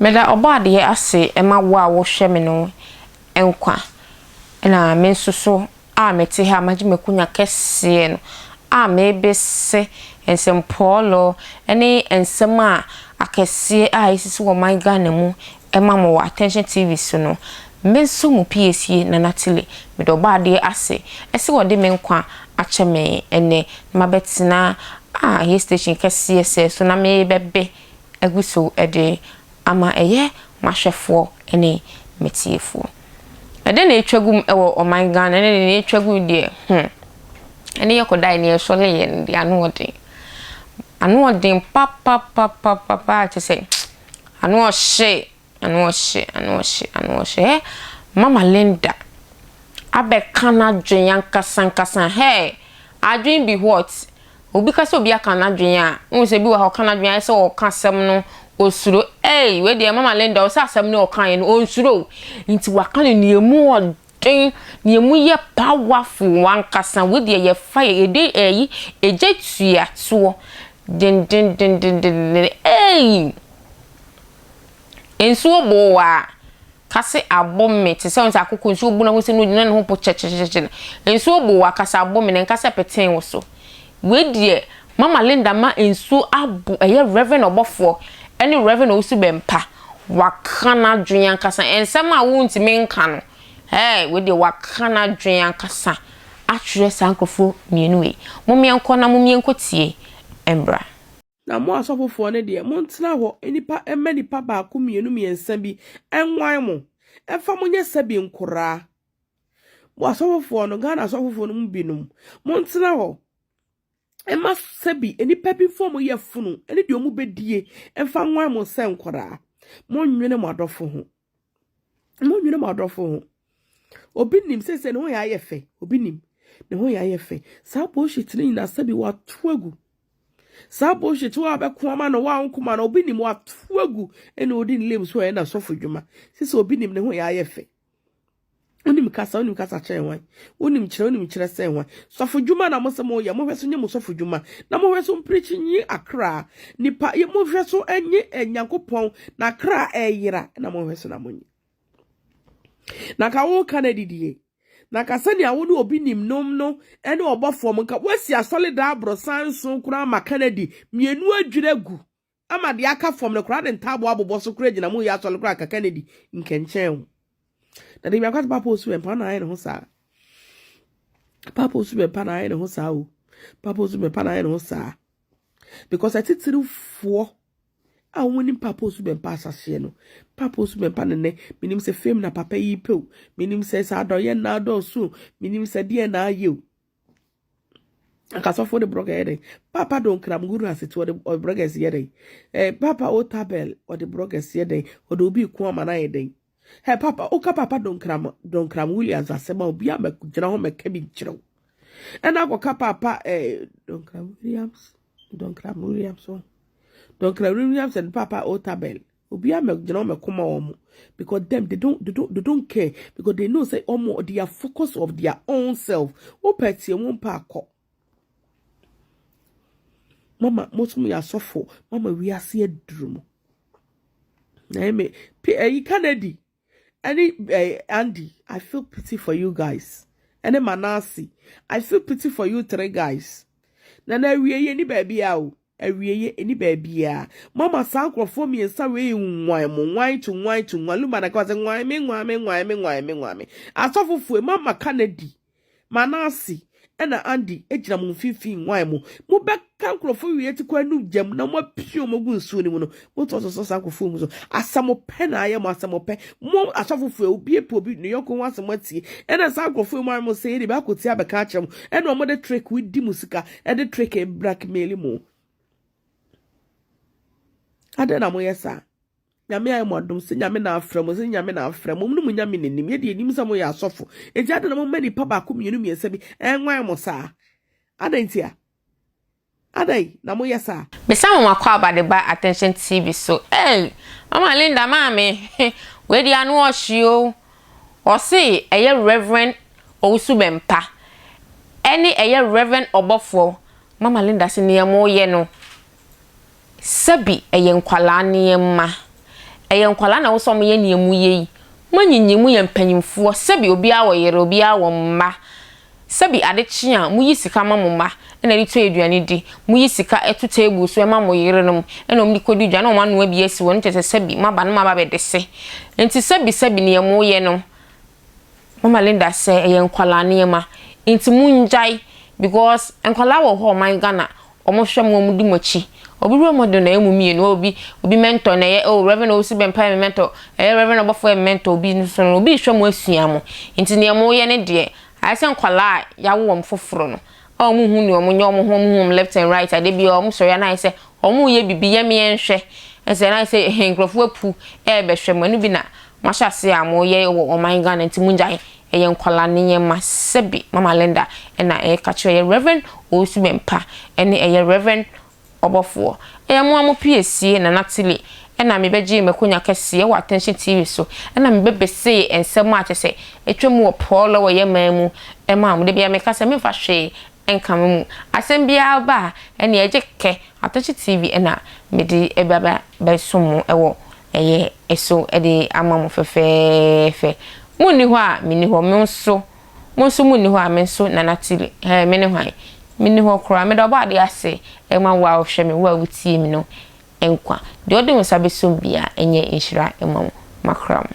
Meda Ɔbɔadeɛ ase ma wo a wohwɛ me no nkwa, na me nso so a mete ha magye m'akunya kɛseɛ no a merebese nsɛmpɔɔlɔ ne nsɛm a akɛseɛ a ɛsisi wɔ ɔman Ghana mu Ɛma mo wɔ Attention TV so no, me nso mo piesie Nana Tile, meda Ɔbɔadeɛ ase sɛ ɔde me nkwa akyɛ me ɛnnɛ na mabɛtena ah yɛ station kɛseɛ sɛɛ so na merebɛbe agu so de ama ɛyɛ m'ahwɛfoɔ ne m'atiefoɔ. Ɛdɛn na ɛretwa gu mu wɔ ɔman Ghana ne deɛ ɛretwa gu mu deɛ hmm ɛne yɛ kɔdaeɛ ne yɛsɔreeɛ no deɛ ano ɔden, ano ɔden papapapapapaa kyɛ sɛ. Ano ɔhye, ano ɔhye, ano ɔhye, ano ɔhye, eh, Mama Linda abɛka n'adwene ankasa ankasa, hey, adwene bi what? Obi ka sɛ obi aka n'adwene a, wohu sɛ bi wɔ ha ɔka n'adwene ayɛ sɛ ɔreka asɛm no osuro, ei, wei deɛ Mama Linda ɔsɛ asɛm no a ɔkaeɛ no ɔnsuro o, nti waka no nea emu Ɛn, na emu yɛ powerful ankasa. Wei deɛ yɛ fire, yɛde ɛyi egya tua toɔ dendendendenden. Ei! Nsuo boo wo ara, ka se abo me te sɛ, wohu sɛ akoko nsuo bu no a, wohu sɛ na ɔgyina ne ho po kyɛkyɛkyɛkyɛ no. Nsuo boo wo ara, ka sɛ abo me na nka sɛ petee wo so. Wei deɛ mama Linda ma nsuo abo ɛyɛ Rev ɔbɔfoɔ ɛne Rev Owusu Bɛmpa waka n'adwene ankasa nsɛm a wontumi nka no ɛɛ wei deɛ waka n'adwene ankasa akyerɛ saa nkorɔfoɔ mmienu wei momeɛ nkɔ na momeɛ nkɔ tie mbra. Na mo asɔfofoɔ no deɛ montena hɔ nipa mma nipa baako mmienu mmiɛnsa bi nwan mo ɛmfa mo nyɛ sɛbi nkoraa Mo asɔfofoɔ no, Ghana asɔfofoɔ no mu binom, montena hɔ mma sɛbi nnipa bi mfa wɔn yafunu ne deɛ wɔbɛdie mfa nwan mo sɛ nkwadaa. Monnwene mo adɔfo ho. Monnwene mo adɔfo ho. Obi nim sɛsɛ ne ho yɛ ayɛ fɛ. Obi nim ne ho yɛ ayɛ fɛ. Saa bullshit no nyinaa sɛbi wato agu. Saa bullshit wo a bɛko ama no wo a wonkoma no obi nim wato agu ɛna odi ne lame so ɛna sɔfo dwuma. Sisi obi nim ne ho yɛ ayɛ fɛ. Wonim kasa, wonim kasa kyerɛ hwan? Wonim kyerɛ, wonim kyerɛ sɛ hwan? Sɔfo dwuma na mo sɛ mo yɛ, mo hwɛ so nye mo sɔfo dwuma, na mo hwɛ so mpirikyi nye akra nipa, mo hwɛ so nye Nyankopɔn na akra ɛyera, na mo hwɛ so na mo nye. Na nka wo ka na didie, na nka sɛnea wo ne obi nim nom no ɛne ɔbɔfoɔ mo, nka wasi asɔle daa aborosan nson koraa ma ka na di, mmienu adwira gu. Ama deɛ aka fam no koraa de ntaaboɔ abobɔ so koraa gyina mo yɛ asɔre koraa kaka na di nkɛnkyɛn ho. Na deɛ biako sɛ Papa Osubenpa na ayɛ ne ho saa. Papa Osubenpa na ayɛ ne ho saa o. Papa Osubenpa na ayɛ ne ho saa. Because atitirifoɔ a wɔn nim Papa Osubenpa asaseɛ no, Papa Osubenpa ne ne menim sɛ fame na papa yi pɛ o, menim sɛ sɛ adɔyɛ na adɔɔso o, menim sɛ deɛ na ayɛ o. anka sɔfo de brɔga yɛ dɛn papa do nkram guru asete ɔde ɔde brɔga yɛ dɛn ɛɛ eh, papa o tabel ɔde brɔga yɛ dɛn ɔde obi ko ama na yɛ dɛn ɛ eh, papa oka papa do nkram do nkram williams asɛm a obi a mɛgyina hɔ mɛka bi nkyerɛw ɛna akɔka papa ɛɛ eh, do nkram williams do nkram williams do nkram williams and papa o tabel Obiara mmɛgyina wɔn ɛko ma wɔn because them they don't they don't they don't care because they know say wɔn they are focus of their own self. Wopɛ tie wɔn pɛ akɔ. Mama mo nso mo yɛ asɔfo mama wiase aduru mo. Na ɛmɛ pe ɛyi Kennedy. ɛne eh, Andy, I feel pity for you guys. ɛne Manase, I feel pity for you three guys. Na na awieɛ ni baabiara o, awieɛ ni baabiara. Mama saa nkurɔfoɔ mmiɛnsa wei nwan mo, nwan to nwan to nwan, Lumana ka sɛ nwan me, nwan me, nwan me, nwan me, nwan me. Asɔfo fue, mama ka na di. Manase na Andy gyina mo mfimfini hwan mu? Mobɛka nkurɔfoɔ wie te kɔ anu gya mu na moapia wɔn agu nsuo no mu no, motumi sosɔ saa nkurɔfoɔ mu so. Asɛmopɛ na ayɛ mo, asɛmopɛ. Mo asɔfofoɔ yi, obi apɛ obi ne yɔnko ho asɛm atie. Ɛna saa nkurɔfoɔ yi mo ara mo sɛ yɛde bɛakɔtie abɛka akyerɛ mo. Ɛna wɔn de trick di mo sika, ɛde trick blackmail mo. Adɛn na moyɛ saa? Nyame ayɛ mo adom sɛ Nyame na afrɛ mo, sɛ Nyame na afrɛ mo, mone mo Nyame na nim, yɛ deɛ yɛnim sɛ moyɛ asɔfo, enti adɛn na mo mma nipa baako mmienu mmiɛnsa bi ɛnwan mo saa? Adɛn ntia? Adɛn na mo yɛ saa? Bisa mo m'akwaaba de ba attention TV so ei mama Linda maame he wei deɛ ano ɔhye o ɔse ɛyɛ Rev Owusu Bɛmpa ɛne ɛyɛ Rev Ɔbɔfoɔ mama Linda se neɛ mo yɛ no Sɛbi ɛyɛ nkwadaa nneɛma. Ɛyɛ nkwadaa na ɛwɔ sɛ wɔyɛ nea moyɛ yi. Moanyinyin, moyɛ mpanimfoɔ. Sɛbi obiara wɔ yere, obiara wɔ mma. Sɛbi ade kye a, moyi sika ma mo mma na ɛde tɔ aduane di. Moyi sika to table so ma mo yerenom na wɔde kɔdi dwa na wɔanoa bi asi hɔ. Ɛno kyerɛ sɛ sɛbi moaba na moaba abɛdese. Enti sɛbi sɛbi nea moyɛ no, Mama Linda sɛ ɛyɛ nkwadaa nneɛma nti mo ngyae because nkwadaa wɔ hɔ a ɔman Ghana ɔmo hwɛ mo ɔmo di mo akyi obi role model na ɛyɛ mo mmienu oh obi obi mentor na ɛyɛ oh Rev Owusu Bɛmpa yɛ me mentor ɛyɛ Rev Ɔbɔfoɔ yɛ me mentor obi nso no obi rehwɛ mo asua mo nti nea mo yɛ no deɛ ayɛ sɛ nkwadaa a yawo wɔn foforo no a wɔn ho ne wɔn nyɛ wɔn ho wɔn ho wɔn left and right a da biara wɔn sɔre a na ayɛ sɛ wɔn reyɛ biribi yɛ meɛ nhwɛ ɛsɛ na ayɛ sɛ ɛhɛn nkurɔfoɔ apu ɛrebɛhwɛ mo ɛno bi na mo ahyɛ ase a mo yɛ wɔ ɔman Ghana nti mo ngyae ɛyɛ nkwadaa ne yɛma sɛbi mama Linda ɛna ɛreka kyerɛ yɛ Rev Owusu Bɛmpa ɛne ɛyɛ Rev Ɔbɔfoɔ. Ɛyɛ mo a mo pii asie Nana Tilly ɛna me bɛgyee m'akonya kɛseɛ wɔ Attention TV so ɛna me bɛbesee nsɛm a kyɛsɛ atwa mu wɔ Paul wɔ yɛ man mu ɛma mo dabia meka sɛ menfa hwee nka mo mu asɛm biara ba a ɛneɛ ɛgye kɛ Attention TV ɛna mede ɛba bɛ bɛsom mo ɛwɔ ɛyɛ ɛso ɛde ama mo fɛfɛɛfɛ mo nni hɔ a menni hɔ mo nso Mo nso monni hɔ a, me nso, Nana Tilly, ɛɛ, mene hwan? Menni hɔ koraa. Meda Ɔbɔadeɛ ase ma wo a wohwɛ me, wo a wutie me no nkwa. Deɛ ɔde wo nsa bɛsɔ mu biara, ɛnyɛ nhyira mma wo. Makora mo.